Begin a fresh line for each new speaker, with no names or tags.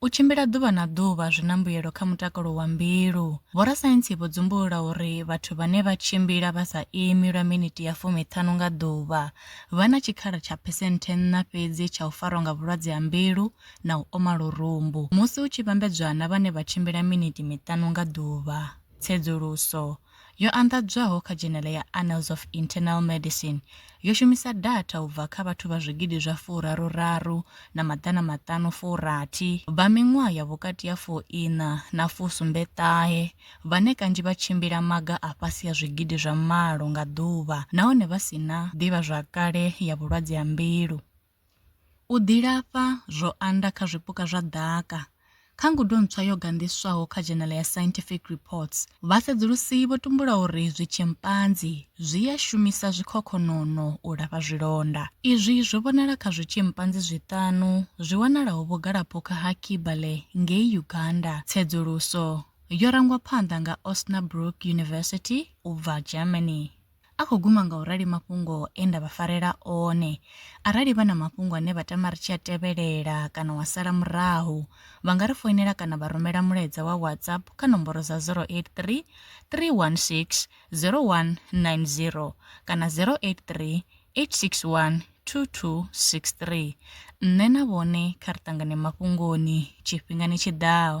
U tshimbila ḓuvha na ḓuvha zwi na mbuyelo kha mutakalo wa mbilu. Vhorasaintsi vho dzumbulula uri vhathu vhane vha tshimbila vha sa imi lwa miniti ya fumiṱhanu nga ḓuvha vha na tshikhala tsha phesenthe nṋa fhedzi tsha u farwa nga vhulwadze ha mbilu na u oma lurumbu musi hu tshi vhambedzwa na vhane vha tshimbila miniti miṱanu nga ḓuvha. Tsedzuluso. yo anḓadzwaho kha dzhenele ya Annals of Internal Medicine yo shumisa data u bva kha vhathu vha zwigidi zwa furaru raru na maḓana maṱanu furathi vha miṅwaha ya vhukati ya fuiṋa na fusumbe ṱahe vhane kanzhi vha tshimbila maga a fhasi ya zwigidi zwa malo nga ḓuvha nahone vha si na ḓivhazwakale ya vhulwadze ha mbilu. U ḓilafha zwo anda kha zwipuka zwa ḓaka. Kha ngudo ntswa yo ganḓiswaho kha dzhenele ya Scientific Reports, vhasedzulusi vho tumbula uri zwitshimpanzi zwi a shumisa zwikhokhonono u lafha zwilonda. Izwi zwi vhonala kha zwitshimpanzi zwiṱanu zwi wanalaho vhugalaphukha ha Kibale ngei Uganda. Tsedzuluso yo rangwa phanḓa nga Osnabrück University u bva Germany. A khou guma nga u rali mafhungo e nda vha farela one. Arali vha na mafhungo ane vha tama ri tshi a tevhelela kana wa sala murahu, vha nga ri foinela kana vha rumela mulaedza wa WhatsApp kha nomboro dza 083 316 0190 kana 083 861 2263. Nṋe na vhone kha ri ṱangane mafhungoni tshifhingani tshi ḓaho.